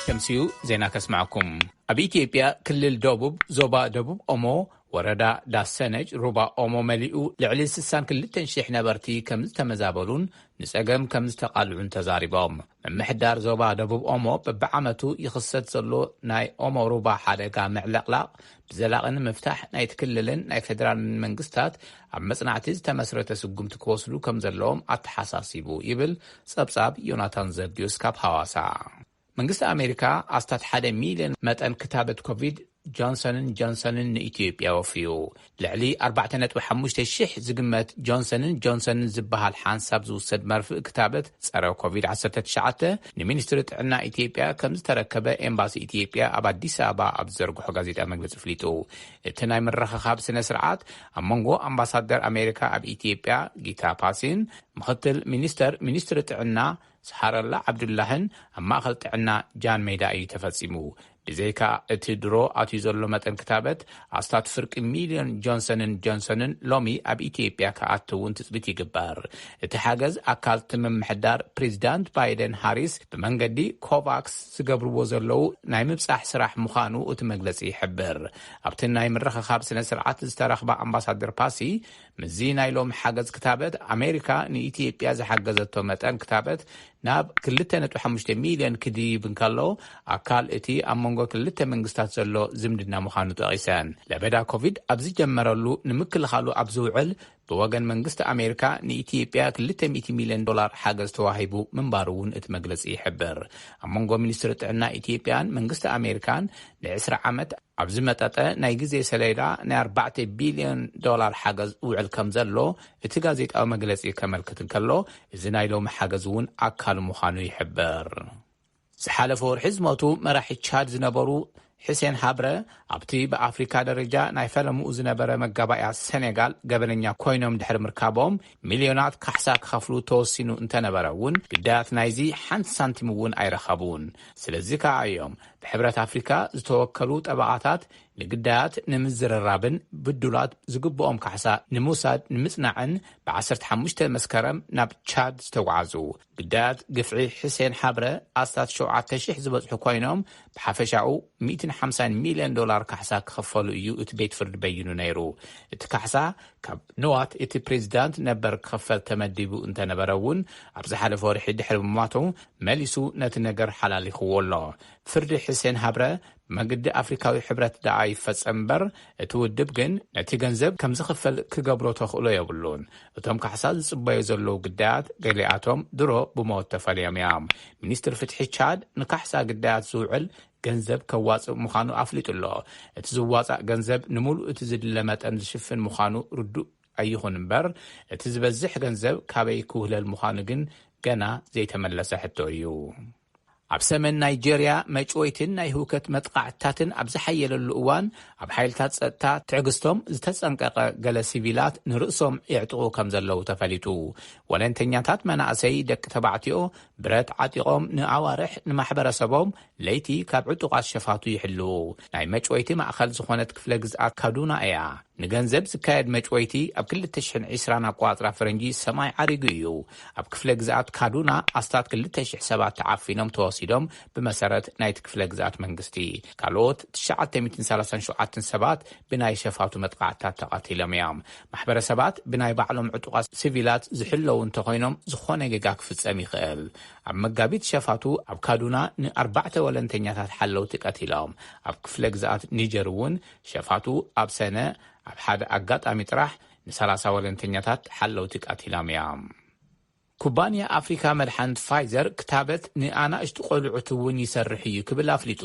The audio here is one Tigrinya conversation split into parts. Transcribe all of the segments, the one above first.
ከምስዩ ዜና ከስማዕኩም ኣብ ኢትዮጵያ ክልል ደቡብ ዞባ ደቡብ ኦሞ ወረዳ ዳሰነጅ ሩባ ኦሞ መሊኡ ልዕሊ 6200 ነበርቲ ከም ዝተመዛበሉን ንጸገም ከም ዝተቓልዑን ተዛሪቦም ምምሕዳር ዞባ ደቡብ ኦሞ ብብዓመቱ ይኽሰት ዘሎ ናይ ኦሞ ሩባ ሓደጋ ምዕለቕላቕ ዘላቒ ንምፍታሕ ናይቲ ክልልን ናይ ፌደራልን መንግስታት ኣብ መጽናዕቲ ዝተመስረተ ስጉምቲ ክወስዱ ከም ዘለዎም ኣተሓሳሲቡ ይብል ጸብጻብ ዮናታን ዘብድዮስ ካብ ሃዋሳ። መንግስቲ ኣሜሪካ ኣስታት ሓደ ሚልዮን መጠን ክታበት ኮቪድ ጆንሰንን ጆንሰንን ንኢትዮጵያ ወፍዩ። ልዕሊ ኣርባዕተ ነጥቢ ሓሙሽተ ሽሕ ዝግመት ጆንሰንን ጆንሰንን ዝበሃል ሓንሳብ ዝውሰድ መርፍእ ክታበት ፀረ ኮቪድ ዓሰርተ ትሽዓተ ንሚኒስትሪ ጥዕና ኢትዮጵያ ከምዝተረከበ ኤምባሲ ኢትዮጵያ ኣብ ኣዲስ ኣበባ ኣብ ዝዘርግሖ ጋዜጣዊ መግለፂ ኣፍሊጡ። እቲ ናይ ምርኽኻብ ስነ ስርዓት ኣብ መንጎ ኣምባሳደር ኣሜሪካ ኣብ ኢትዮጵያ ጊታ ፓሲን፣ ምኽትል ሚኒስተር ሚኒስትሪ ጥዕና ሰሓረላ ዓብዱላህን ኣብ ማእኸል ጥዕና ጃን ሜዳ እዩ ተፈፂሙ። ብዘይካ እቲ ድሮ ኣትዩ ዘሎ መጠን ክታበት፣ ኣስታት ፍርቂ ሚልዮን ጆንሰንን ጆንሰንን ሎሚ ኣብ ኢትዮጵያ ክኣቱ እውን ትፅቢት ይግበር። እቲ ሓገዝ ኣካል እቲ ምምሕዳር ፕሬዚዳንት ባይደን ሃሪስ ብመንገዲ ኮቫክስ ዝገብርዎ ዘለዉ ናይ ምብፃሕ ስራሕ ምዃኑ እቲ መግለፂ ይሕብር። ኣብቲ ናይ ምርኽኻብ ስነ ስርዓት ዝተረኽባ ኣምባሳደር ፓሲ፣ ምስዚ ናይ ሎሚ ሓገዝ ክታበት ኣሜሪካ ንኢትዮጵያ ዝሓገዘቶ መጠን ክታበት ናብ ክልተ ነጥቢ ሓሙሽተ ሚልዮን ክድይብ እንከሎ ኣካል እቲ ኣብ መንጎ ክልተ መንግስታት ዘሎ ዝምድና ምዃኑ ጠቒሰን። ለበዳ ኮቪድ ኣብ ዝጀመረሉ ንምክልኻሉ ኣብ ዝውዕል ብወገን መንግስቲ ኣሜሪካ ንኢትዮጵያ ክልተ ሚእቲ ሚልዮን ዶላር ሓገዝ ተዋሂቡ ምንባሩ እውን እቲ መግለፂ ይሕብር። ኣብ መንጎ ሚኒስትሪ ጥዕና ኢትዮጵያን መንግስቲ ኣሜሪካን ንዕስራ ዓመት ኣብ ዝመጠጠ ናይ ግዜ ሰሌዳ ናይ ኣርባዕተ ቢልዮን ዶላር ሓገዝ ውዕል ከም ዘሎ እቲ ጋዜጣዊ መግለጺ ከመልክት እንከሎ፣ እዚ ናይ ሎሚ ሓገዝ እውን ኣካል ምዃኑ ይሕብር። ዝሓለፈ ወርሒ ዝሞቱ መራሒ ቻድ ዝነበሩ ሕሴን ሃብረ ኣብቲ ብኣፍሪካ ደረጃ ናይ ፈለምኡ ዝነበረ መጋባእያ ሰኔጋል ገበነኛ ኮይኖም ድሕሪ ምርካቦም ሚልዮናት ካሕሳ ክኸፍሉ ተወሲኑ እንተነበረ እውን ግዳያት ናይዚ ሓንቲ ሳንቲም እውን ኣይረኸቡን። ስለዚ ከኣ እዮም ብሕብረት ኣፍሪካ ዝተወከሉ ጠበቓታት ንግዳያት ንምዝርራብን ብዱላት ዝግብኦም ካሕሳ ንምውሳድ ንምፅናዕን ብ15 መስከረም ናብ ቻድ ዝተጓዓዙ ግዳያት ግፍዒ ሕሴን ሓብረ ኣስታት 7,000 ዝበፅሑ ኮይኖም ብሓፈሻኡ 150 ሚልዮን ዶላር ካሕሳ ክኽፈሉ እዩ እቲ ቤት ፍርዲ በይኑ ነይሩ እቲ ካሕሳ ካብ ንዋት እቲ ፕሬዚዳንት ነበር ክኽፈል ተመዲቡ እንተነበረ እውን ኣብ ዝሓለፈ ወርሒ ድሕሪ ምሟቱ መሊሱ ነቲ ነገር ሓላሊኽዎ ኣሎ። ፍርዲ ሕሴን ሃብረ ብመግዲ ኣፍሪካዊ ሕብረት ደኣ ይፈፀም እምበር እቲ ውድብ ግን ነቲ ገንዘብ ከም ዝኽፈል ክገብሮ ተኽእሎ የብሉን። እቶም ካሕሳ ዝፅበዩ ዘለዉ ግዳያት ገሊኣቶም ድሮ ብሞት ተፈልዮም እዮም። ሚኒስትር ፍትሒ ቻድ ንካሕሳ ግዳያት ዝውዕል ገንዘብ ከዋፅእ ምዃኑ ኣፍሊጡ ኣሎ። እቲ ዝዋፃእ ገንዘብ ንምሉእ እቲ ዝድለ መጠን ዝሽፍን ምዃኑ ርዱእ ኣይኹን እምበር እቲ ዝበዝሕ ገንዘብ ካበይ ክውህለል ምዃኑ ግን ገና ዘይተመለሰ ሕቶ እዩ። ኣብ ሰሜን ናይጀርያ መጭወይትን ናይ ህውከት መጥቓዕትታትን ኣብ ዝሓየለሉ እዋን ኣብ ሓይልታት ፀጥታ ትዕግስቶም ዝተፀንቀቐ ገለ ሲቪላት ንርእሶም የዕጥቑ ከምዘለዉ ተፈሊጡ። ወለንተኛታት መናእሰይ ደቂ ተባዕትዮ ብረት ዓጢቖም ንኣዋርሕ ንማሕበረሰቦም ለይቲ ካብ ዕጡቓት ሸፋቱ ይሕልዉ። ናይ መጭወይቲ ማእኸል ዝኾነት ክፍለ ግዝኣት ካዱና እያ። ንገንዘብ ዝካየድ መጭወይቲ ኣብ ክልተ ሽሕን ዕስራን ኣቆፃፅራ ፈረንጂ ሰማይ ዓሪጉ እዩ። ኣብ ክፍለ ግዝኣት ካዱና ኣስታት ክልተ ሽሕ ሰባት ተዓፊኖም ተወሲዶም ብመሰረት ናይቲ ክፍለ ግዝኣት መንግስቲ። ካልኦት ትሽዓተ ሚእትን ሰላሳን ሸውዓተን ሰባት ብናይ ሸፋቱ መጥቓዕትታት ተቐቲሎም እዮም። ማሕበረሰባት ብናይ ባዕሎም ዕጡቓት ስቪላት ዝሕለዉ እንተኾይኖም ዝኾነ ጌጋ ክፍፀም ይኽእል። ኣብ መጋቢት ሸፋቱ ኣብ ካዱና ንኣርባዕተ ወለንተኛታት ሓለውቲ ቀቲሎም። ኣብ ክፍለ ግዝኣት ኒጀር እውን ሸፋቱ ኣብ ሰነ ኣብ ሓደ ኣጋጣሚ ጥራሕ ንሰላሳ ወለንተኛታት ሓለውቲ ቀቲሎም እዮም። ኩባንያ ኣፍሪካ መድሓንት ፋይዘር ክታበት ንኣናእሽቱ ቆልዑት እውን ይሰርሕ እዩ ክብል ኣፍሊጡ።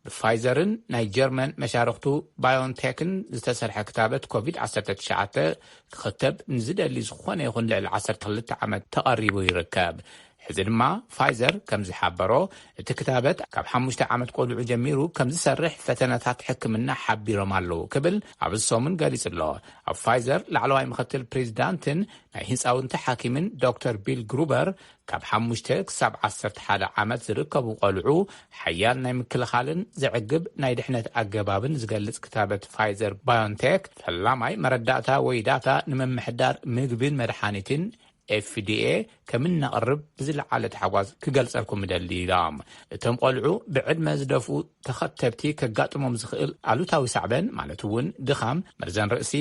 ብፋይዘርን ናይ ጀርመን መሻርኽቱ ባዮንቴክን ዝተሰርሐ ክታበት ኮቪድ ዓሰርተ ትሽዓተ ክኽተብ ንዝደሊ ዝኾነ ይኹን ልዕሊ ዓሰርተ ክልተ ዓመት ተቐሪቡ ይርከብ። ሕዚ ድማ ፋይዘር ከምዝሓበሮ እቲ ክታበት ካብ ሓሙሽተ ዓመት ቆልዑ ጀሚሩ ከምዝሰርሕ ፈተነታት ሕክምና ሓቢሮም ኣለው ክብል ኣብዚ ሰሙን ገሊፁ ኣሎ። ኣብ ፋይዘር ላዕለዋይ ምኽትል ፕሬዚዳንትን ናይ ህፃውንቲ ሓኪምን ዶክተር ቢል ግሩበር ካብ ሓሙሽተ ክሳብ ዓሰርተ ሓደ ዓመት ዝርከቡ ቆልዑ ሓያል ናይ ምክልኻልን ዘዕግብ ናይ ድሕነት ኣገባብን ዝገልፅ ክታበት ፋይዘር ባዮንቴክ ፈላማይ መረዳእታ ወይ ዳታ ንምምሕዳር ምግብን መድሓኒትን ኤፍዲኤ ከምነቕርብ ብዝለዓለ ታሕጓስ ክገልጸልኩም እደሊ ኢሎም። እቶም ቆልዑ ብዕድመ ዝደፍኡ ተኸተብቲ ከጋጥሞም ዝኽእል ኣሉታዊ ሳዕበን ማለት እውን ድኻም፣ መርዘን ርእሲ፣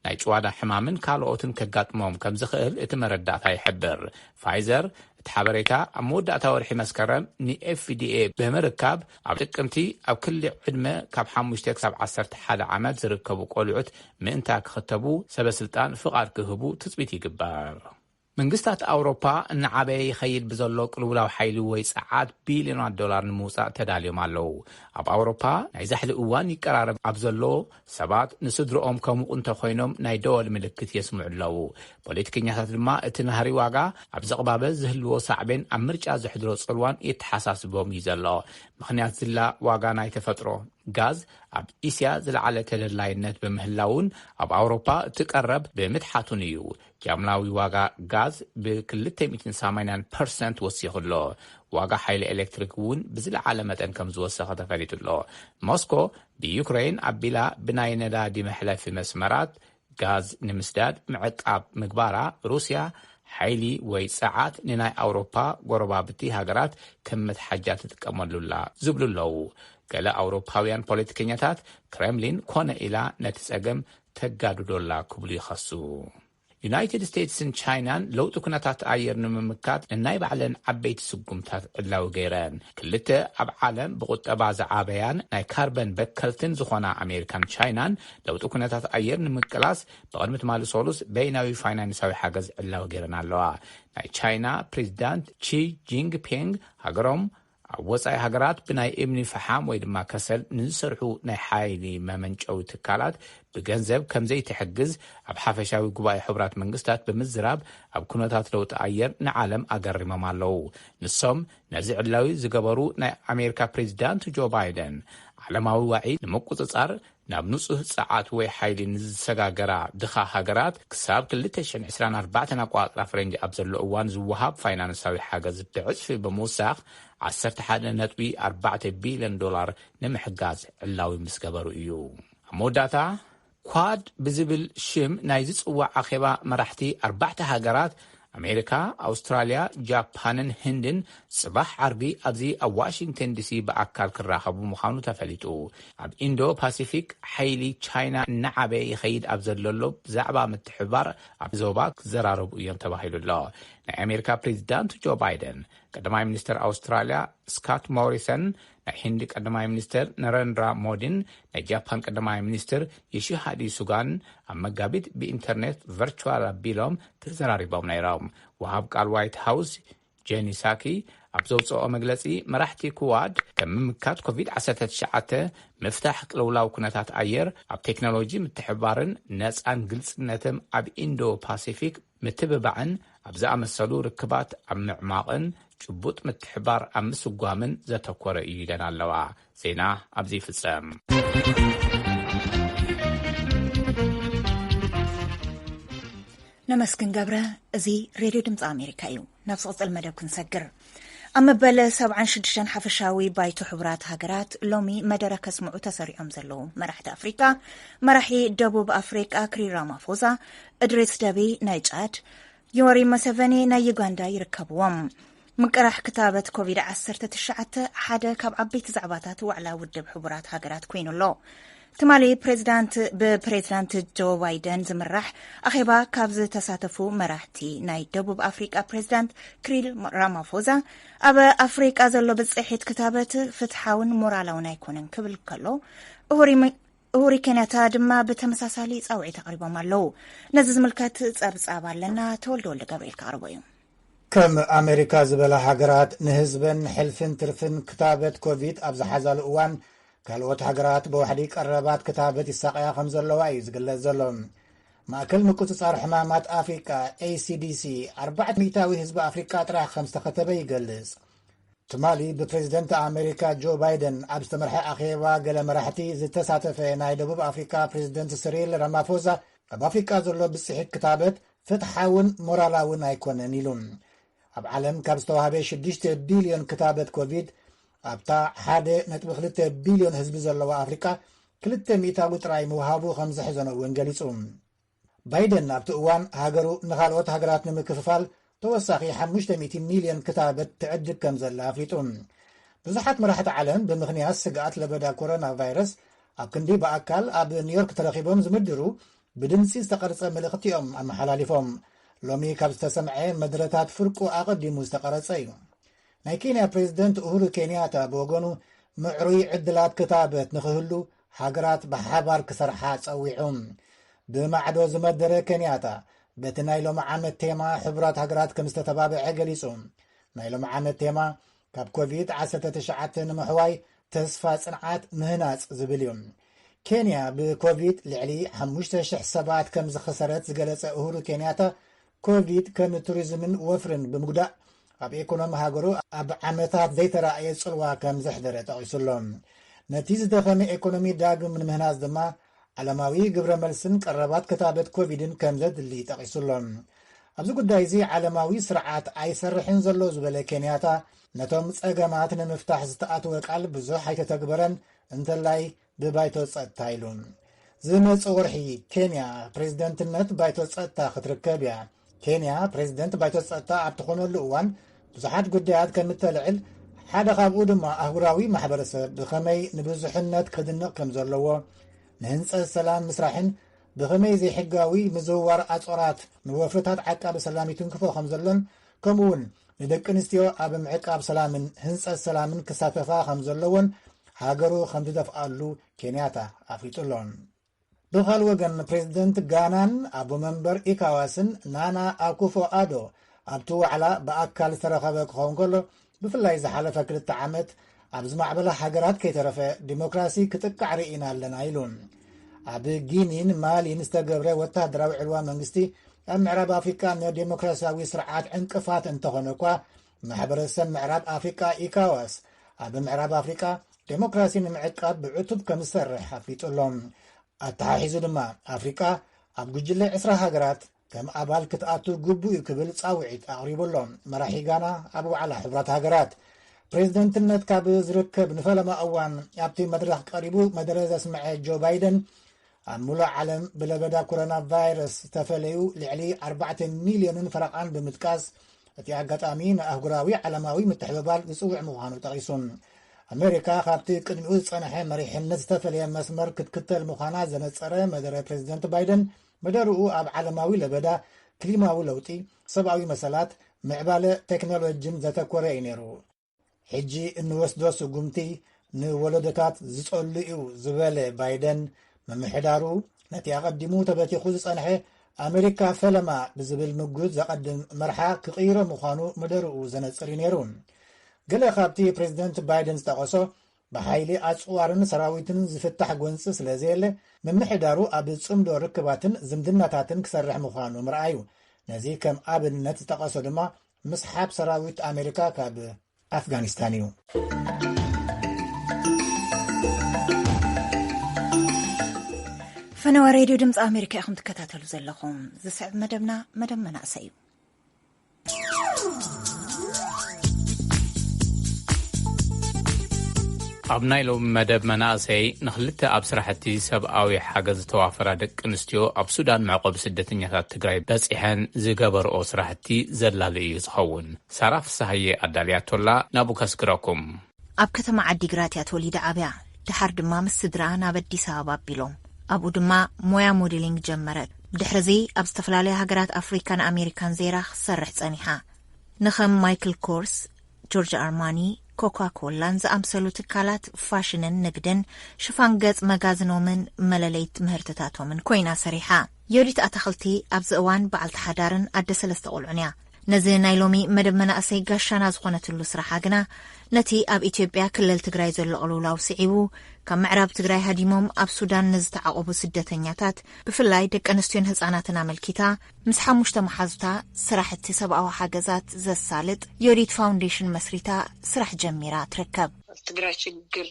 ናይ ጭዋዳ ሕማምን ካልኦትን ከጋጥሞም ከም ዝኽእል እቲ መረዳእታ ይሕብር። ፋይዘር፣ እቲ ሓበሬታ ኣብ መወዳእታ ወርሒ መስከረም ንኤፍዲኤ ብምርካብ፣ ኣብ ጥቅምቲ ኣብ ክሊ ዕድመ ካብ ሓሙሽተ ክሳብ ዓሰርተ ሓደ ዓመት ዝርከቡ ቆልዑት ምእንታ ክኽተቡ ሰበስልጣን ፍቓድ ክህቡ ትጽቢት ይግበር። መንግስታት ኣውሮፓ እናዓበየ ይኸይድ ብዘሎ ቅልውላው ሓይሊ ወይ ጸዓት ቢልዮናት ዶላር ንምውጻእ ተዳልዮም ኣለዉ። ኣብ ኣውሮፓ ናይ ዛሕሊ እዋን ይቀራረብ ኣብ ዘሎ፣ ሰባት ንስድርኦም ከሙቑ እንተ ኾይኖም ናይ ደወል ምልክት የስምዑ ኣለዉ። ፖለቲከኛታት ድማ እቲ ናህሪ ዋጋ ኣብ ዝቕባበ ዝህልዎ ሳዕቤን ኣብ ምርጫ ዘሕድሮ ጽልዋን የተሓሳስቦም እዩ ዘሎ። ምኽንያት ዝላ ዋጋ ናይ ተፈጥሮ ጋዝ ኣብ እስያ ዝለዓለ ተደላይነት ብምህላዉን ኣብ ኣውሮፓ እቲ ቀረብ ብምትሓቱን እዩ። ጃምላዊ ዋጋ ጋዝ ብ ክልተ ሚእትን ሰማንያን ፐርሰንት ወሲኹ ኣሎ። ዋጋ ሓይሊ ኤሌክትሪክ እውን ብዝለዓለ መጠን ከም ዝወሰኸ ተፈሊጡ ኣሎ። ሞስኮ ብዩክረይን ኣቢላ ብናይ ነዳዲ መሕለፊ መስመራት ጋዝ ንምስዳድ ምዕቃብ ምግባራ ሩስያ ሓይሊ ወይ ጸዓት ንናይ ኣውሮፓ ጎረባብቲ ሃገራት ከም መትሓጃ ትጥቀመሉ ኣላ ዝብሉ ኣለዉ። ገለ ኣውሮፓውያን ፖለቲከኛታት ክረምሊን ኮነ ኢላ ነቲ ጸገም ተጋድዶ ኣላ ክብሉ ይኸሱ። ዩናይትድ ስቴትስን ቻይናን ለውጢ ኩነታት ኣየር ንምምካት ነናይ ባዕለን ዓበይቲ ስጉምታት ዕላዊ ገይረን። ክልተ ኣብ ዓለም ብቑጠባ ዝዓበያን ናይ ካርበን በከልትን ዝኾና ኣሜሪካን ቻይናን ለውጢ ኩነታት ኣየር ንምቅላስ ብቕድሚ ትማሊ ሰሉስ በይናዊ ፋይናንሳዊ ሓገዝ ዕላዊ ገይረን ኣለዋ። ናይ ቻይና ፕሬዚዳንት ቺ ጂንግ ፔንግ ሃገሮም ኣብ ወጻኢ ሃገራት ብናይ እምኒ ፈሓም ወይ ድማ ከሰል ንዝሰርሑ ናይ ሓይሊ መመንጨዊ ትካላት ብገንዘብ ከምዘይትሕግዝ ኣብ ሓፈሻዊ ጉባኤ ሕቡራት መንግስታት ብምዝራብ ኣብ ኩነታት ለውጢ ኣየር ንዓለም ኣገሪሞም ኣለዉ። ንሶም ነዚ ዕላዊ ዝገበሩ ናይ ኣሜሪካ ፕሬዚዳንት ጆ ባይደን ዓለማዊ ዋዒ ንምቁጽጻር ናብ ንጹህ ጸዓት ወይ ሓይሊ ንዝሰጋገራ ድኻ ሃገራት ክሳብ ክልተ ሽሕን ዕስራን ኣርባዕተን ኣቆጻጽራ ፈረንጂ ኣብ ዘሎ እዋን ዝወሃብ ፋይናንሳዊ ሓገዝ ብዕጽፊ ብምውሳኽ ዓሰርተ ሓደ ነጥቢ ኣርባዕተ ቢልዮን ዶላር ንምሕጋዝ ዕላዊ ምስ ገበሩ እዩ። ኣብ መወዳእታ፣ ኳድ ብዝብል ሽም ናይ ዝጽዋዕ ኣኼባ መራሕቲ ኣርባዕተ ሃገራት ኣሜሪካ፣ ኣውስትራልያ፣ ጃፓንን ህንድን ጽባሕ ዓርቢ ኣብዚ ኣብ ዋሽንግተን ዲሲ ብኣካል ክራኸቡ ምዃኑ ተፈሊጡ። ኣብ ኢንዶ ፓሲፊክ ሓይሊ ቻይና እናዓበየ ይኸይድ ኣብ ዘለሎ ብዛዕባ ምትሕብባር ኣብ ዞባ ክዘራረቡ እዮም ተባሂሉ ኣሎ። ናይ ኣሜሪካ ፕሬዚዳንት ጆ ባይደን፣ ቀዳማይ ሚኒስተር ኣውስትራልያ ስካት ሞሪሰን ናይ ህንዲ ቀዳማይ ሚኒስተር ነረንድራ ሞዲን ናይ ጃፓን ቀዳማይ ሚኒስትር ዪሺሃዲ ሱጋን ኣብ መጋቢት ብኢንተርኔት፣ ቨርቹዋል፣ ኣቢሎም ተዘራሪቦም ነይሮም። ወሃብ ቃል ዋይት ሃውስ ጄኒ ሳኪ ኣብ ዘውጽኣኦ መግለጺ፣ መራሕቲ ክዋድ ከም ምምካት ኮቪድ ዓሰርተ ትሽዓተ፣ ምፍታሕ ቅልውላው ኩነታት ኣየር፣ ኣብ ቴክኖሎጂ ምትሕብባርን ነጻን ግልጽነትም ኣብ ኢንዶ ፓሲፊክ፣ ምትብባዕን ኣብ ዝኣመሰሉ ርክባት ኣብ ምዕማቕን ጭቡጥ ምትሕብባር ኣብ ምስጓምን ዘተኮረ እዩ ኢለን ኣለዋ። ዜና ኣብዚ ይፍጸም። ነመስግን ገብረ እዚ ሬድዮ ድምፂ ኣሜሪካ እዩ። ናብ ዝቕጽል መደብ ክንሰግር። ኣብ መበል ሰብዓን ሽዱሽተን ሓፈሻዊ ባይቶ ሕቡራት ሃገራት ሎሚ መደረ ከስምዑ ተሰሪዖም ዘለዉ መራሕቲ ኣፍሪቃ፣ መራሒ ደቡብ ኣፍሪቃ ክሪል ራማፎዛ፣ እድሪስ ደቢ ናይ ጫድ፣ ዮወሪ መሰቨኒ ናይ ዩጋንዳ ይርከብዎም። ምቅራሕ ክታበት ኮቪድ ዓሰርተ ትሽዓተ ሓደ ካብ ዓበይቲ ዛዕባታት ዋዕላ ውድብ ሕቡራት ሃገራት ኮይኑ ኣሎ። ትማሊ ፕሬዚዳንት ብፕሬዚዳንት ጆ ባይደን ዝምራሕ ኣኼባ ካብ ዝተሳተፉ መራሕቲ ናይ ደቡብ ኣፍሪቃ ፕሬዚዳንት ክሪል ራማፎዛ ኣብ ኣፍሪቃ ዘሎ ብፅሒት ክታበት ፍትሓውን ሞራላውን ኣይኮነን ክብል ከሎ እሁሪ ኬንያታ ድማ ብተመሳሳሊ ፃውዒት ኣቕሪቦም ኣለው ነዚ ዝምልከት ፀብፃብ ኣለና ተወልደ ወልደ ገብርኤል ክቕርቦ እዩ ከም ኣሜሪካ ዝበላ ሃገራት ንህዝበን ሕልፍን ትርፍን ክታበት ኮቪድ ኣብ ዝሓዛሉ እዋን ካልኦት ሃገራት ብዋሕዲ ቀረባት ክታበት ይሳቐያ ከም ዘለዋ እዩ ዝግለጽ ዘሎ። ማእከል ምቁጽጻር ሕማማት ኣፍሪቃ ACDC ኣርባዕተ ሚእታዊ ህዝቢ ኣፍሪቃ ጥራሕ ከም ዝተኸተበ ይገልጽ። ትማሊ ብፕሬዝደንት ኣሜሪካ ጆ ባይደን ኣብ ዝተመርሐ ኣኼባ ገለ መራሕቲ ዝተሳተፈ ናይ ደቡብ ኣፍሪካ ፕሬዝደንት ስሪል ራማፎዛ ኣብ ኣፍሪቃ ዘሎ ብጽሒት ክታበት ፍትሓውን ሞራላውን ኣይኮነን ኢሉ። ኣብ ዓለም ካብ ዝተዋህበ 6 ቢልዮን ክታበት ኮቪድ ኣብታ ሓደ ነጥቢ ክልተ ቢልዮን ህዝቢ ዘለዋ ኣፍሪቃ ክልተ ሚእታዊ ጥራይ ምውሃቡ ከም ዘሕዘኖ እውን ገሊጹ። ባይደን ኣብቲ እዋን ሃገሩ ንኻልኦት ሃገራት ንምክፍፋል ተወሳኺ ሓሙሽተ ሚእቲ ሚልዮን ክታበት ትዕድግ ከም ዘላ ኣፍሊጡ። ብዙሓት መራሕቲ ዓለም ብምኽንያት ስግኣት ለበዳ ኮሮና ቫይረስ ኣብ ክንዲ ብኣካል ኣብ ኒውዮርክ ተረኺቦም ዝምድሩ ብድምፂ ዝተቐርፀ ምልእኽቲ እዮም ኣመሓላሊፎም። ሎሚ ካብ ዝተሰምዐ መድረታት ፍርቁ ኣቐዲሙ ዝተቐረፀ እዩ። ናይ ኬንያ ፕሬዝደንት ኡሁሩ ኬንያታ ብወገኑ ምዕሩይ ዕድላት ክታበት ንኽህሉ ሃገራት ብሓባር ክሰርሓ ጸዊዑ። ብማዕዶ ዝመደረ ኬንያታ በቲ ናይ ሎሚ ዓመት ቴማ ሕቡራት ሃገራት ከም ዝተተባብዐ ገሊጹ። ናይ ሎሚ ዓመት ቴማ ካብ ኮቪድ 19 ንምሕዋይ ተስፋ ጽንዓት ምህናጽ ዝብል እዩ። ኬንያ ብኮቪድ ልዕሊ 5,000 ሰባት ከም ዝኸሰረት ዝገለጸ ኡሁሩ ኬንያታ ኮቪድ ከም ቱሪዝምን ወፍርን ብምጉዳእ ኣብ ኤኮኖሚ ሃገሩ ኣብ ዓመታት ዘይተራእየ ጽልዋ ከም ዘሕደረ ጠቒሱ ኣሎ። ነቲ ዝደኸመ ኤኮኖሚ ዳግም ንምህናጽ ድማ ዓለማዊ ግብረ መልስን ቀረባት ክታበት ኮቪድን ከም ዘድሊ ጠቒሱ ኣሎ። ኣብዚ ጉዳይ እዚ ዓለማዊ ስርዓት ኣይሰርሕን ዘሎ ዝበለ ኬንያታ ነቶም ጸገማት ንምፍታሕ ዝተኣትወ ቃል ብዙሕ ኣይተተግበረን እንተላይ ብባይቶ ጸጥታ ኢሉ። ዝመጽእ ወርሒ ኬንያ ፕሬዝደንትነት ባይቶ ጸጥታ ክትርከብ እያ። ኬንያ ፕሬዝደንት ባይቶ ጸጥታ ኣብ ትኾነሉ እዋን ብዙሓት ጉዳያት ከም እተልዕል ሓደ ካብኡ ድማ ኣህጉራዊ ማሕበረሰብ ብኸመይ ንብዙሕነት ክድንቕ ከም ዘለዎ ንህንፀት ሰላም ምስራሕን ብኸመይ ዘይሕጋዊ ምዝውዋር ኣጾራት ንወፍርታት ዓቃቢ ሰላም ይትንክፎ ከም ዘሎን ከምኡ እውን ንደቂ ኣንስትዮ ኣብ ምዕቃብ ሰላምን ህንፀት ሰላምን ክሳተፋ ከምዘለዎን ሃገሩ ከምትደፍኣሉ ኬንያታ ኣፍሊጡ ኣሎ። ብኻል ወገን ፕሬዝደንት ጋናን ኣቦ መንበር ኢካዋስን ናና ኣኩፎ ኣዶ ኣብቲ ዋዕላ ብኣካል ዝተረኸበ ክኸውን ከሎ ብፍላይ ዝሓለፈ ክልተ ዓመት ኣብ ዝማዕበላ ሃገራት ከይተረፈ ዲሞክራሲ ክጥቃዕ ርኢና ኣለና ኢሉ። ኣብ ጊኒን ማሊን ዝተገብረ ወተሃደራዊ ዕልዋ መንግስቲ ኣብ ምዕራብ ኣፍሪቃ ንዴሞክራሲያዊ ስርዓት ዕንቅፋት እንተኾነ እኳ ማሕበረሰብ ምዕራብ ኣፍሪቃ ኢካዋስ ኣብ ምዕራብ ኣፍሪቃ ዴሞክራሲ ንምዕቃብ ብዕቱብ ከም ዝሰርሕ ኣፍሊጡ ኣሎ። ኣተሓሒዙ ድማ ኣፍሪቃ ኣብ ጉጅለ ዕስራ ሃገራት ከም ኣባል ክትኣቱ ግቡእ እዩ ክብል ጻውዒት ኣቕሪቡ ኣሎ። መራሒ ጋና ኣብ ዋዕላ ሕቡራት ሃገራት ፕሬዝደንትነት ካብ ዝርከብ ንፈለማ እዋን ኣብቲ መድረኽ ቀሪቡ መደረ ዘስምዐ ጆ ባይደን ኣብ ምሉእ ዓለም ብለበዳ ኮሮና ቫይረስ ዝተፈለዩ ልዕሊ 4 ሚልዮንን ፈረቓን ብምጥቃስ እቲ ኣጋጣሚ ንኣህጉራዊ ዓለማዊ ምትሕብባር ዝጽውዕ ምዃኑ ጠቒሱ ኣሜሪካ ካብቲ ቅድሚኡ ዝጸንሐ መሪሕነት ዝተፈለየ መስመር ክትክተል ምዃና ዘነጸረ መደረ ፕሬዚደንት ባይደን መደርኡ ኣብ ዓለማዊ ለበዳ፣ ክሊማዊ ለውጢ፣ ሰብኣዊ መሰላት፣ ምዕባለ ቴክኖሎጂን ዘተኮረ እዩ ነይሩ። ሕጂ እንወስዶ ስጉምቲ ንወለዶታት ዝጸሉ እዩ ዝበለ ባይደን፣ ምምሕዳሩ ነቲ ኣቐዲሙ ተበቲኹ ዝጸንሐ ኣመሪካ ፈለማ ብዝብል ምጉት ዘቐድም መርሓ ክቕይሮ ምዃኑ መደርኡ ዘነጽር እዩ ነይሩ። ገለ ካብቲ ፕሬዚደንት ባይደን ዝጠቐሶ ብሓይሊ ኣጽዋርን ሰራዊትን ዝፍታሕ ጎንጺ ስለ ዘየለ፣ ምምሕዳሩ ኣብ ጽምዶ ርክባትን ዝምድናታትን ክሰርሕ ምዃኑ ምርኣዩ፣ ነዚ ከም ኣብነት ዝጠቐሶ ድማ ምስሓብ ሰራዊት ኣሜሪካ ካብ ኣፍጋኒስታን እዩ። ፈነወ ሬድዮ ድምፂ ኣሜሪካ ኢኹም ትከታተሉ ዘለኹም። ዝስዕብ መደብና መደብ መናእሰይ እዩ። ኣብ ናይ ሎም መደብ መናእሰይ ንክልተ ኣብ ስራሕቲ ሰብኣዊ ሓገዝ ዝተዋፈራ ደቂ ኣንስትዮ ኣብ ሱዳን መዕቆቢ ስደተኛታት ትግራይ በፂሐን ዝገበርኦ ስራሕቲ ዘላሉ እዩ ዝኸውን ሳራ ፍሳሃየ ኣዳልያቶላ ናብኡ ከስግረኩም ኣብ ከተማ ዓዲግራት እያ ተወሊዳ ዓብያ። ደሓር ድማ ምስ ስድርኣ ናብ ኣዲስ ኣበባ ኣቢሎም። ኣብኡ ድማ ሞያ ሞዴሊንግ ጀመረት። ብድሕሪ እዚ ኣብ ዝተፈላለያ ሃገራት ኣፍሪካን ኣሜሪካን ዘይራ ክትሰርሕ ፀኒሓ። ንከም ማይክል ኮርስ፣ ጆርጅ ኣርማኒ፣ ኮካ ኮላን ዝኣምሰሉ ትካላት ፋሽንን ንግድን ሽፋን ገፅ መጋዝኖምን መለለይት ምህርትታቶምን ኮይና ሰሪሓ። ዮዲት ኣታኽልቲ ኣብዚ እዋን በዓልቲ ሓዳርን ኣደ ሰለስተ ቁልዑን እያ። ነዚ ናይ ሎሚ መደብ መናእሰይ ጋሻና ዝኾነትሉ ስራሓ ግና ነቲ ኣብ ኢትዮጵያ ክልል ትግራይ ዘሎ ቅልውላው ስዒቡ ካብ ምዕራብ ትግራይ ሃዲሞም ኣብ ሱዳን ንዝተዓቖቡ ስደተኛታት ብፍላይ ደቂ ኣንስትዮን ህፃናትን ኣመልኪታ ምስ ሓሙሽተ መሓዙታ ስራሕቲ ሰብኣዊ ሓገዛት ዘሳልጥ ዮዲት ፋውንዴሽን መስሪታ ስራሕ ጀሚራ ትርከብ። ኣብ ትግራይ ሽግር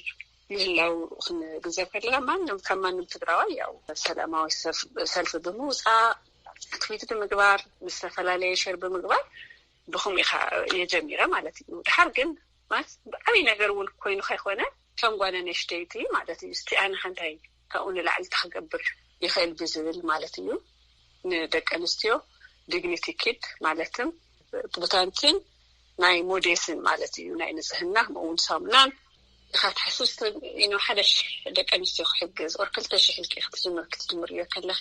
ምህላው ክንግንዘብ ከለና ማንም ካብ ማንም ትግራዋይ ያው ሰላማዊ ሰልፊ ብምውፃእ ትዊት ብምግባር ምስ ዝተፈላለየ ሸር ብምግባር ብኹምኡ ኢኻ እየ ጀሚረ ማለት እዩ ድሓር ግን ማለት ብዓብይ ነገር እውን ኮይኑ ከይኮነ ከም ጓል ኣነሽተይቲ ማለት እዩ እስቲ ኣነ ሓንታይ ካብኡ ንላዕሊ እንታይ ክገብር ይኽእል ብዝብል ማለት እዩ ንደቂ ኣንስትዮ ዲግኒቲ ኪት ማለትም ቡታንትን ናይ ሞዴስን ማለት እዩ ናይ ንፅህና ከምኡ እውን ሳሙናን ኢካ ትሓስብ ስለዚ ሓደ ሽሕ ደቂ ኣንስትዮ ክሕግዝ ኦር ክልተ ሽሕ ኢልኪ ክትጅምሪ ክትጅምርዮ ከለኪ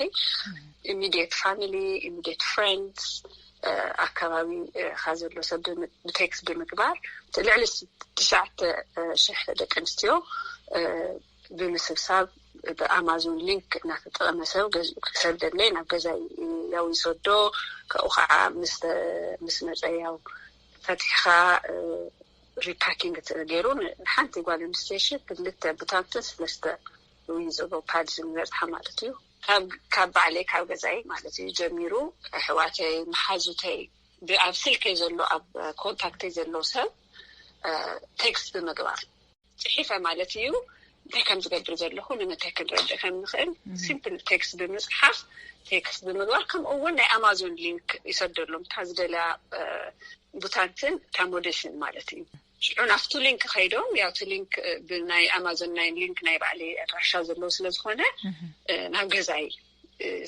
ኢሚድየት ፋሚሊ ኢሚድየት ፍሬንድስ ኣከባቢካ ዘሎ ሰብ ብቴክስ ብምግባር ልዕሊ ትሽዓተ ሽሕ ደቂ ኣንስትዮ ብምስብሳብ ብኣማዞን ሊንክ እናተጠቐመ ሰብ ገዚኡ ክሰደለይ ናብ ገዛ ያው ይሰዶ ካብኡ ከዓ ምስ መፀ ያው ፈትሕኻ ሪፓኪንግ ገይሩ ንሓንቲ ጓል ኣንስተይቲ ክልተ ብታንትን ስለስተ ዝብሎ ፓድ ዝበፅሓ ማለት እዩ ካብ ባዕለይ ካብ ገዛይ ማለት እዩ ጀሚሩ ኣሕዋተይ መሓዙተይ ብኣብ ስልከይ ዘሎ ኣብ ኮንታክተይ ዘሎ ሰብ ቴክስት ብምግባር። ጽሒፈ ማለት እዩ እንታይ ከም ዝገብር ዘለኹ ንምንታይ ክንረድእ ከም ንኽእል ሲምፕል ቴክስት ብምፅሓፍ ቴክስት ብምግባር ከምኡ እውን ናይ ኣማዞን ሊንክ ይሰደሎም እታ ዝደልያ ቡታንትን እታ ሞዴስን ማለት እዩ ሽዑ ናብቲ ሊንክ ከይዶም ያው እቲ ሊንክ ብናይ ኣማዞን ናይ ሊንክ ናይ ባዕሊ ኣድራሻ ዘለዎ ስለዝኾነ ናብ ገዛይ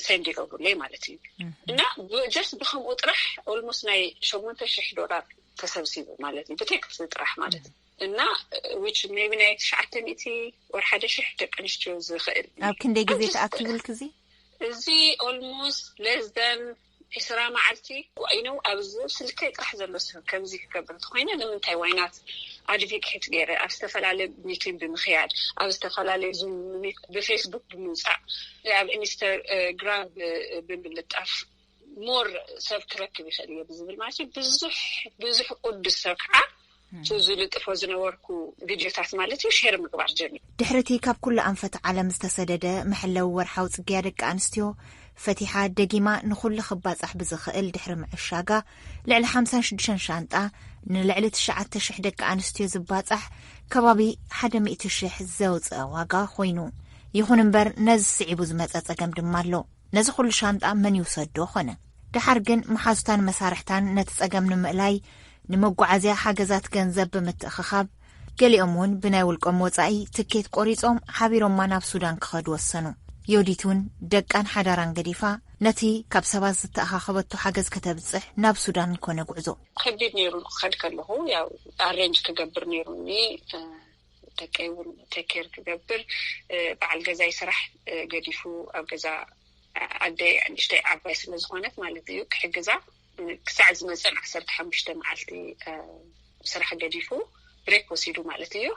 ሰንድ ይገብሩለይ ማለት እዩ እና ጀስት ብከምኡ ጥራሕ ኦልሞስት ናይ ሸሞንተ ሽሕ ዶላር ተሰብሲቡ ማለት እዩ ብቴክስት ጥራሕ ማለት እዩ እና ዊች ቢ ናይ ትሽዓተ ሚእቲ ወር ሓደ ሽሕ ደቂ ኣንስትዮ ዝኽእል ኣብ ክንደይ ግዜ ተኣኪብልክ እዚ እዚ ኦልሞስት ለስደን ዕስራ መዓልቲ ይኑ ኣብዚ ስልከይ ጥራሕ ዘሎ ሰብ ከምዚ ክገብር እንተኮይነ ንምንታይ ዋይናት ኣድቪኬት ገይረ ኣብ ዝተፈላለዩ ሚቲን ብምክያድ ኣብ ዝተፈላለዩ ዙ ብፌስቡክ ብምውፃእ ኣብ ኢንስተግራም ብምልጣፍ ሞር ሰብ ክረክብ ይኽእል እዮ ብዝብል ማለት እዩ ብዙሕ ብዙሕ ቅዱስ ሰብ ከዓ ዝልጥፎ ዝነበርኩ ቪድዮታት ማለት እዩ ሸር ምግባር ጀሚ ድሕሪ እቲ ካብ ኩሉ ኣንፈት ዓለም ዝተሰደደ መሐለዊ ወርሓዊ ፅግያ ደቂ ኣንስትዮ ፈቲሓ ደጊማ ንኹሉ ክባፃሕ ብዝኽእል ድሕሪ ምዕሻጋ ልዕሊ 56 ሻንጣ ንልዕሊ 9ሸ ደቂ ኣንስትዮ ዝባፃሕ ከባቢ 100 ሽሕ ዘውፅአ ዋጋ ኮይኑ ይኹን እምበር ነዚ ስዒቡ ዝመፀ ፀገም ድማ ኣሎ ነዚ ኹሉ ሻንጣ መን ይውሰዶ ኾነ? ደሓር ግን መሓዙታን መሳርሕታን ነቲ ጸገም ንምእላይ ንመጓዓዝያ ሓገዛት ገንዘብ ብምትእኽኻብ፣ ገሊኦም እውን ብናይ ውልቆም ወጻኢ ትኬት ቆሪጾም ሓቢሮማ ናብ ሱዳን ክኸዱ ወሰኑ። ዮዲት እውን ደቃን ሓዳራን ገዲፋ ነቲ ካብ ሰባት ዝተኣኻኸበቶ ሓገዝ ከተብጽሕ ናብ ሱዳን ኮነ ጉዕዞ። ከቢድ ነይሩ። ክኸድ ከለኹ ያው ኣሬንጅ ክገብር ነይሩኒ። ደቀይ እውን ተኬር ክገብር በዓል ገዛይ ስራሕ ገዲፉ ኣብ ገዛ ኣደይ ንእሽተይ ዓባይ ስለዝኮነት ማለት እዩ ክሕግዛ ክሳዕ ዝመፀን ዓሰርተ ሓሙሽተ መዓልቲ ስራሕ ገዲፉ ብሬክ ወሲዱ ማለት እዩ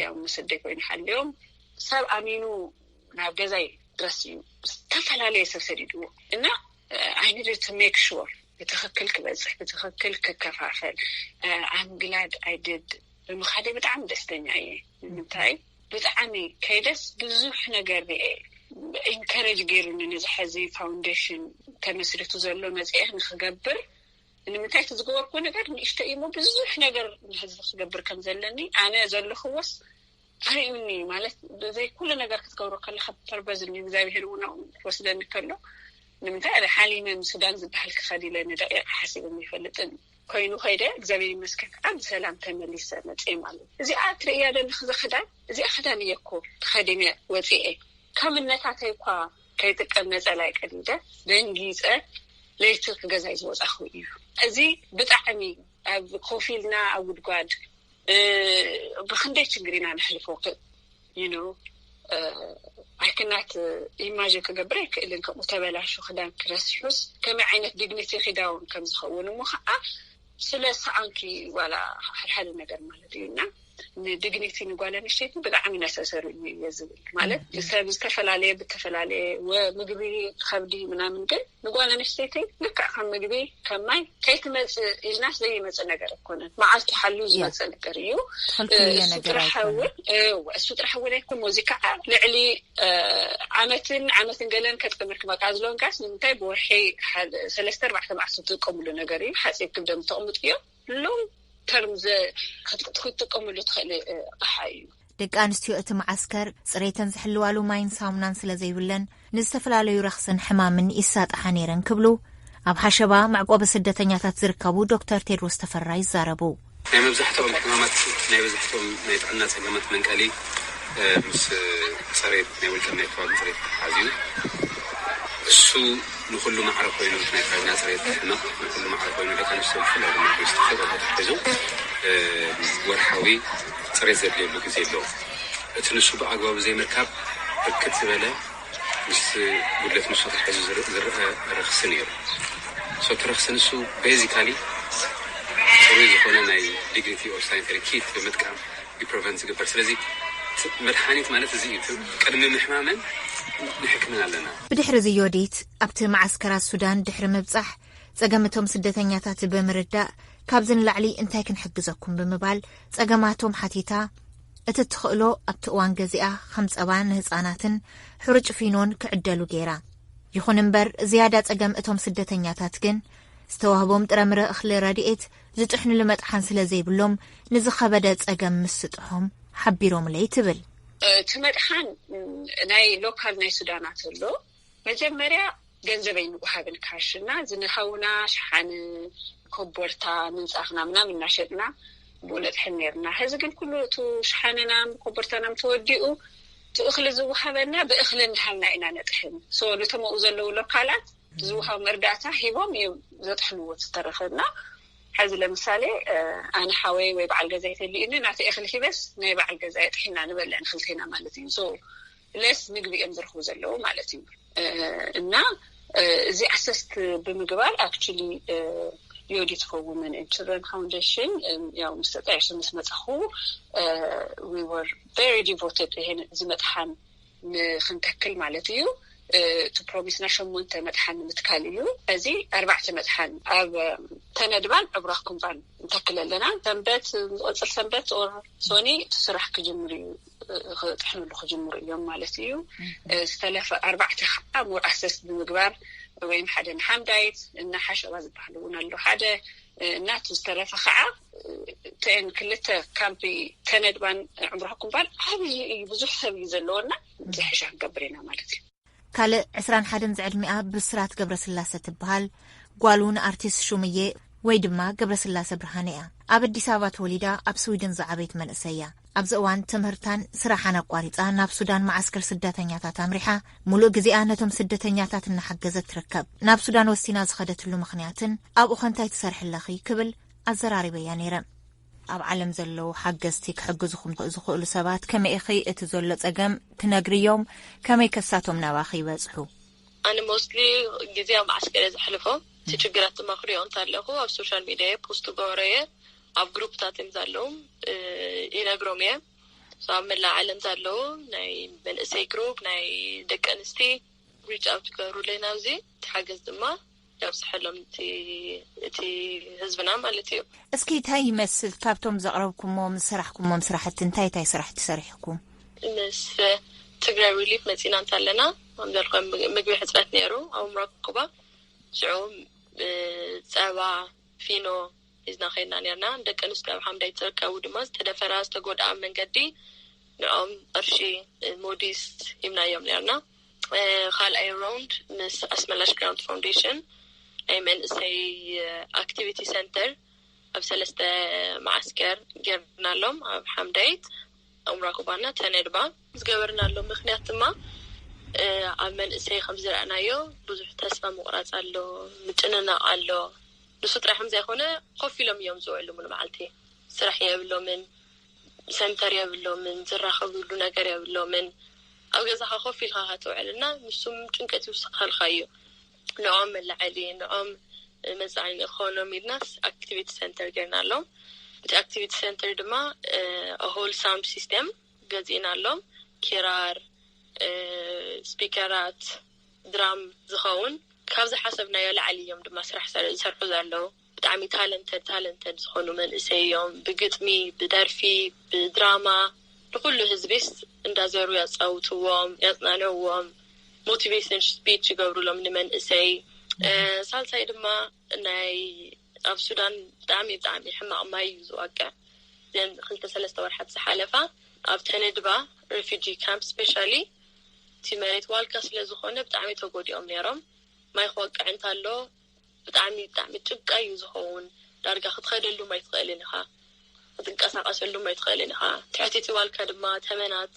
ያው መሰደይ ኮይኑ ሓልዮም ሰብ ኣሚኑ ናብ ገዛይ ድረስ እዩ ዝተፈላለየ ሰብ ሰዲድዎ እና ኣይንድ ሜክ ሹር ብትክክል ክበፅሕ ብትክክል ክከፋፈል ኣምግላድ ኣይድድ ብምኻደይ ብጣዕሚ ደስተኛ እየ ንምንታይ ብጣዕሚ ከይደስ ብዙሕ ነገር ሪኤ ኢንከረጅ ገይሩኒ ነዚ ሐዚ ፋውንዴሽን ተመስሪቱ ዘሎ መፅኤ ንክገብር ንምንታይ እቲ ዝገበርኩዎ ነገር ንእሽተይ እዩሞ ብዙሕ ነገር ንህዝቢ ክገብር ከም ዘለኒ ኣነ ዘለክዎስ ኣርእዩኒ እዩ ማለት ብዘይ ኩሉ ነገር ክትገብሮ ከለካ ፐርበዝን እዩ እግዚኣብሄር እውን ኣብኡ ክወስደኒ ከሎ ንምንታይ ኣደ ሓሊመ ንሱዳን ዝበሃል ክኸዲ ኢለ ንደቂቅ ሓሲበ ይፈልጥን ኮይኑ ከይደ እግዚኣብሔር ይመስከን ከዓ ብሰላም ተመሊሰ መፅኤ ማለት እዩ እዚኣ ትርእያ ደለክ ዘክዳን እዚኣ ክዳን እየኮ ተኸዲነ ወፅኤ ካብ እነታተይ እኳ ከይጥቀም ነፀላ ይቀዲደ ደንጊፀ ለይቲ ክገዛይ ዝወፃኹ እዩ እዚ ብጣዕሚ ኣብ ኮፊልና ኣብ ጉድጓድ ብክንደይ ችግር ኢና ነሕልፎ ኣይክናት ኢማጅን ክገብር ኣይክእልን ከምኡ ተበላሹ ክዳን ክረስሑስ ከመይ ዓይነት ዲግኒቲ ክዳውን ከምዝኸውን እሞ ከዓ ስለ ሰኣንኪ ዋላ ሓልሓሊ ነገር ማለት እዩ እና ንዲግኒቲ ንጓል ኣንሽተይቲ ብጣዕሚ ነሰሰሪ እዩ እየ ዝብል ማለት ሰብ ዝተፈላለየ ብተፈላለየ ምግቢ ከብዲ ምናምን ግን ንጓል ኣንስተይቲ ልክዕ ከም ምግቢ ከም ማይ ከይትመፅእ ኢልናስ ዘይመፅእ ነገር ኣይኮነን መዓልቱ ሓልዩ ዝመፅእ ነገር እዩ እሱ ጥራሕ እውን እሱ ጥራሕ እውን ኣይኮ እዚ ከዓ ልዕሊ ዓመትን ዓመትን ገለን ከጥቀምልክ መቃ ዝለንካስ ንምንታይ ብወርሒ ሰለስተ ኣርባዕተ መዓልቲ ዝጥቀምሉ ነገር እዩ ሓፂብ ክብደም ተቕምጡ እዮም ሎንግ ተርም ክትጥቀመሉ ትኽእል ኣቕሓ እዩ። ደቂ ኣንስትዮ እቲ መዓስከር ፅሬተን ዝሕልዋሉ ማይን ሳሙናን ስለ ዘይብለን ንዝተፈላለዩ ረኽስን ሕማምን ይሳጣሓ ነይረን ክብሉ ኣብ ሓሸባ መዕቆቢ ስደተኛታት ዝርከቡ ዶክተር ቴድሮስ ተፈራ ይዛረቡ። ናይ መብዛሕትኦም ሕማማት ናይ መብዛሕትኦም ናይ ጥዕና ፀገማት መንቀሊ ምስ ፅሬት ናይ ውልቀን ናይ ከባቢ ፅሬት ተተሓሓዝ እዩ እሱ ንኹሉ ማዕረ ኮይኑ ምስ ናይ ካቢና ፅሬት ምሕናኽ ንኹሉ ማዕረ ኮይኑ ደቂ ኣንስትዮ ብፍላይ ድማ ምስ ተፈጥሮ ተተሓሒዙ ወርሓዊ ፅሬት ዘድልየሉ ግዜ ኣሎ። እቲ ንሱ ብኣግባቡ ዘይምርካብ ብርክት ዝበለ ምስ ጉድለት ንሱ ተተሓሒዙ ዝረኣ ረኽሲ ነይሩ። ሶ እቲ ረኽሲ ንሱ ቤዚካሊ ፅሩይ ዝኾነ ናይ ዲግኒቲ ኦር ሳኒተሪ ኪት ብምጥቃም እዩ ፕረቨንት ዝግበር ስለዚ መድሓኒት ማለት እዚ እዩ ቅድሚ ምሕማመን ንሕክምን ኣለና። ብድሕርዚ ዮዲት ኣብቲ መዓስከራት ሱዳን ድሕሪ ምብጻሕ ጸገም እቶም ስደተኛታት ብምርዳእ ካብዚ ንላዕሊ እንታይ ክንሕግዘኩም ብምባል ጸገማቶም ሓቲታ እቲ እትኽእሎ ኣብቲ እዋን ገዚኣ ከም ጸባ ንህጻናትን ሕሩጭ ፊኖን ክዕደሉ ገይራ ይኹን እምበር ዝያዳ ጸገም እቶም ስደተኛታት ግን ዝተዋህቦም ጥረምረ እኽሊ ረድኤት ዝጥሕንሉ መጥሓን ስለ ዘይብሎም ንዝኸበደ ጸገም ምስጥሖም ሓቢሮምለይ ትብል። እቲ መጥሓን ናይ ሎካል ናይ ሱዳናት ኣሎ። መጀመርያ ገንዘብ ኣይንወሃብን ካሽ እና ዝንሃውና ሸሓኒ፣ ኮቦርታ፣ ምንጻፍና ምናምን እናሸጥና ብኡ ነጥሕን ነይርና። ሕዚ ግን ኩሉ እቱ ሸሓንናም ኮቦርታናም ተወዲኡ እቲ እኽሊ ዝወሃበና ብእኽሊ እንዳሃብና ኢና ነጥሕን። ሶ ንቶም ኣብኡ ዘለዉ ሎካላት ዝውሃብ መርዳእታ ሂቦም እዮም ዘጥሕልዎ ዝተረፈ እና ሕዚ ለምሳሌ ኣነ ሓወይ ወይ በዓል ገዛ ይተልዩኒ ናተ ኤክሊ ሂበስ ናይ በዓል ገዛ የጥሒና ንበልዕ ንክልቴና ማለት እዩ ለስ ምግቢ እዮም ዝርክቡ ዘለዉ ማለት እዩ እና እዚ ኣሰስት ብምግባር ኣክ ዮዲ ትኸው መን ን ፋንሽን ያ ምስተጣየሱ ምስ መፃኹ ር ቨ ዲቮትድ ዝመጥሓን ንክንተክል ማለት እዩ እቲ ፕሮሚስና ሸሞንተ መጥሓን ንምትካል እዩ እዚ ኣርባዕተ መጥሓን ኣብ ተነድባን ዕቡራ ኩምባን ንተክል ኣለና ሰንበት ዝቅፅል ሰንበት ኦር ሶኒ እቲ ስራሕ ክጅምር እዩ ክጥሕንሉ ክጅምሩ እዮም ማለት እዩ ዝተለፈ ኣርባዕተ ከዓ ሞር ኣሰስ ብምግባር ወይም ሓደ ንሓምዳይት እና ሓሸባ ዝበሃሉ እውን ኣለ ሓደ ናቱ ዝተረፈ ከዓ ተን ክልተ ካምፒ ተነድባን ዕምራኩም ባል ዓብይ እዩ ብዙሕ ሰብ እዩ ዘለዎና ዝሕሻ ክንገብር ኢና ማለት እዩ ካልእ ዕስራን ሓደን ዝዕድሚኣ ብስራት ገብረ ስላሰ ትበሃል ጓል እውን ኣርቲስት ሹምዬ ወይ ድማ ገብረ ስላሰ ብርሃነ እያ ኣብ ኣዲስ ኣበባ ተወሊዳ ኣብ ስዊድን ዝዓበይት መንእሰይ እያ ኣብዚ እዋን ትምህርታን ስራሓን ኣቋሪፃ ናብ ሱዳን መዓስከር ስደተኛታት ኣምሪሓ ሙሉእ ግዜኣ ነቶም ስደተኛታት እናሓገዘት ትርከብ። ናብ ሱዳን ወሲና ዝኸደትሉ ምኽንያትን ኣብኡ ኸ እንታይ ትሰርሒ ኣለኺ ክብል ኣዘራሪበያ ነይረ። ኣብ ዓለም ዘለዉ ሓገዝቲ ክሕግዙኹም ዝኽእሉ ሰባት ከመይ ኢኺ እቲ ዘሎ ፀገም ትነግርዮም ከመይ ከሳቶም ናባኺ ይበፅሑ? ኣነ ሞስትሊ ግዜ ኣብ መዓስከር እየ ዘሕልፎ እቲ ችግራት ድማ ክሪኦ እንተለኹ ኣብ ሶሻል ሚድያ እየ ፖስት ክገብሮ እየ ኣብ ግሩፕታት እዮም ዘለዉ ይነግሮም እየ ኣብ መላእ ዓለም ዘለዉ ናይ መንእሰይ ግሩፕ ናይ ደቂ ኣንስቲ ሪች ኣውት ክገብሩለይ ናብዚ እቲ ሓገዝ ድማ የብፅሐሎም እቲ ህዝብና ማለት እዩ። እስኪ እንታይ ይመስል ካብቶም ዘቕረብኩሞም ዝሰራሕኩሞም ስራሕቲ እንታይ እንታይ ስራሕቲ ሰሪሕኩም? ምስ ትግራይ ሪሊፍ መፂና እንተለና ከምዘልኮ ምግቢ ሕፅረት ነይሩ ኣብ ምብራቅ ኩባ ሽዑ ፀባ ፊኖ ሒዝና ከይድና ኔርና። ደቂ ኣንስትዮ ኣብ ሓምዳይት ዝርከቡ ድማ ዝተደፈራ፣ ዝተጎድኣ ኣብ መንገዲ ንዕኦም ቕርሺ ሞዲስ ሂብናዮም ኔርና። ኻልኣይ ሮንድ ምስ ኣስመላሽ ግራንት ፋውንዴሽን ናይ መንእሰይ ኣክቲቪቲ ሰንተር ኣብ ሰለስተ መዓስከር ጌርናሎም ኣብ ሓምዳይት። ዑምራ ኩባና ተነድባ። ዝገበርናሉ ምኽንያት ድማ ኣብ መንእሰይ ከም ዝረኣናዮ ብዙሕ ተስፋ ምቑራጽ ኣሎ፣ ምጭንናቕ ኣሎ። ንሱ ጥራይ ከም ዘይኮነ ኮፍ ኢሎም እዮም ዝውዕሉ ሙሉእ መዓልቲ። ስራሕ የብሎምን፣ ሰንተር የብሎምን፣ ዝራኸብሉ ነገር የብሎምን። ኣብ ገዛኻ ኮፍ ኢልኻ ኢኻ ትውዕል እና ንሱ ጭንቀት ይውስኸልካ እዩ። ንኦም መላዐሊ ንኦም መፃዓኒ እኮኖም ኢልናስ ኣክቲቪቲ ሰንተር ገይርናሎም እቲ ኣክቲቪቲ ሰንተር ድማ ሆል ሳውንድ ሲስተም ገዚእናሎም ኪራር ስፒከራት ድራም ዝኸውን ካብ ዝሓሰብናዮ ላዕሊ እዮም ድማ ስራሕ ዝሰርሑ ዘለው ብጣዕሚ ታለንተድ ታለንተድ ዝኾኑ መንእሰይ እዮም ብግጥሚ ብደርፊ ብድራማ ንኹሉ ህዝቢስ እንዳዘሩ ያጻውትዎም ያጽናንዕዎም ሞቲቬሽን ስፒች ይገብሩሎም ንመንእሰይ ሳልሳይ ድማ ናይ ኣብ ሱዳን ብጣዕሚ ብጣዕሚ ሕማቅ ማይ እዩ ዝዋቅዕ ዘን ክልተ ሰለስተ ወርሓት ዝሓለፋ ኣብ ተነድባ ሬፊጂ ካምፕ ስፔሻሊ እቲ መሬት ዋልካ ስለዝኮነ ብጣዕሚ ተጎዲኦም ነይሮም ማይ ክወቅዕ እንተሎ ብጣዕሚ ብጣዕሚ ጭቃ እዩ ዝኸውን ዳርጋ ክትኸደሉም ኣይትኽእልን ኢኻ ክትንቀሳቀሰሉም ኣይትኽእልን ኢኻ ትሕቲ ጢዋልካ ድማ ተመናት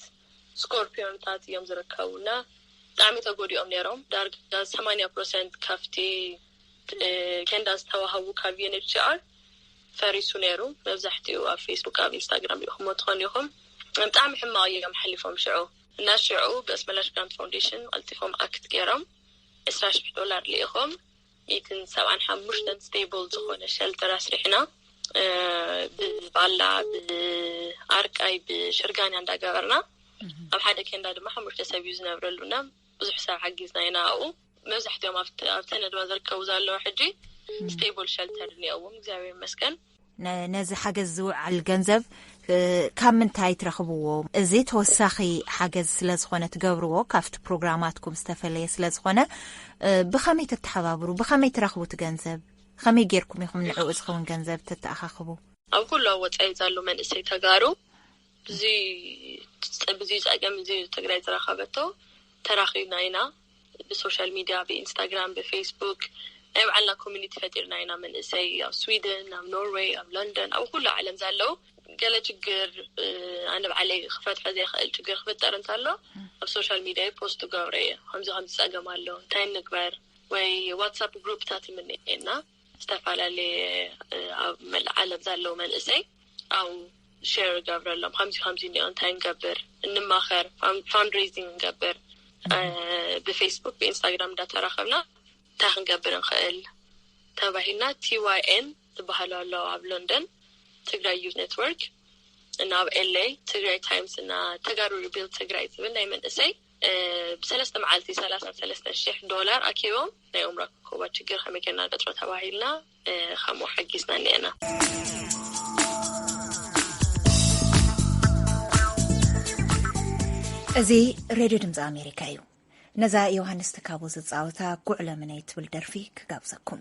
ስኮርፒዮንታት እዮም ዝርከቡ እና ብጣዕሚ ተጎዲኦም ነይሮም ዳርጋ ሰማንያ ፕሮሰንት ካብቲ ኬንዳ ዝተዋህቡ ካብ ዩንችኣር ፈሪሱ ነይሩ መብዛሕትኡ ኣብ ፌስቡክ ኣብ ኢንስታግራም ሪኢኹሞ ትኾኑ ኢኹም ብጣዕሚ ሕማቕ እዮም ሓሊፎም ሽዑ እና ሽዑ ብስመላሽ ግራንት ፋውንዴሽን ቀልጢፎም ኣክት ገይሮም ዕስራ ሽሕ ዶላር ልኢኾም ሚእትን ሰብዓን ሓሙሽተን ስቴብል ዝኾነ ሸልተር ኣስሪሕና ብባላ ብኣርቃይ ብሽርጋንያ እንዳገበርና ኣብ ሓደ ኬንዳ ድማ ሓሙሽተ ሰብ እዩ ዝነብረሉና ብዙሕ ሰብ ሓጊዝና ኢና ኣብኡ መብዛሕትኦም ኣብተን ድማ ዝርከቡ ዘለዉ ሕጂ ስቴብል ሸልተር እኒኦዎም እግዚኣብሔር ይመስገን ነዚ ሓገዝ ዝውዓል ገንዘብ ካብ ምንታይ ትረኽብዎ? እዚ ተወሳኺ ሓገዝ ስለ ዝኾነ ትገብርዎ ካብቲ ፕሮግራማትኩም ዝተፈለየ ስለ ዝኾነ ብኸመይ ተተሓባብሩ? ብኸመይ ትረኽቡ እቲ ገንዘብ? ከመይ ጌርኩም ኢኹም ንዕኡ ዝኸውን ገንዘብ ተተኣኻኽቡ? ኣብ ኩሉ ኣብ ወፃኢ ዘሎ መንእሰይ ተጋሩ ብዙይ ፀገም እዙይ ትግራይ ዝረኸበቶ ተራኺብና ኢና። ብሶሻል ሚድያ ብኢንስታግራም ብፌስቡክ ናይ ባዕልና ኮሚኒቲ ፈጢርና ኢና መንእሰይ ኣብ ስዊድን ኣብ ኖርወይ ኣብ ለንደን ኣብ ኩሉ ዓለም ዘለው ገለ ችግር ኣነ ባዕለይ ክፈትሖ ዘይክእል ችግር ክፍጠር እንተሎ ኣብ ሶሻል ሚድያ ፖስት ገብረ እየ ከምዚ ከምዚ ፀገም ኣሎ እንታይ ንግበር ወይ ዋትሳፕ ግሩፕታት ይምንኤና ዝተፈላለየ ኣብ መላእ ዓለም ዘለዉ መንእሰይ ኣብኡ ሸር እገብረሎም ከምዚ ከምዚ እኒኦ እንታይ ንገብር እንማኸር ፋንድሬዚንግ ንገብር ብፌስቡክ ብኢንስታግራም እንዳተራኸብና እንታይ ክንገብር ንኽእል ተባሂልና ቲዋይኤን ዝበሃሉ ኣለዉ ኣብ ሎንደን ትግራይ ዩ ኔትወርክ እና ኣብ ኤለይ ትግራይ ታይምስ እና ተጋሩ ሪቢል ትግራይ ዝብል ናይ መንእሰይ ብሰለስተ መዓልቲ ሰላሳን ሰለስተን ሽሕ ዶላር ኣኪቦም ናይ ኡምራ ኮባ ችግር ከመይ ጌርና ንቀፅሮ ተባሂልና ከምኡ ሓጊዝና እኒኤና። እዚ ሬድዮ ድምፂ ኣሜሪካ እዩ። ነዛ ዮሃንስ ትካቦ ዝፃወታ ጉዕለምነይ ትብል ደርፊ ክጋብዘኩም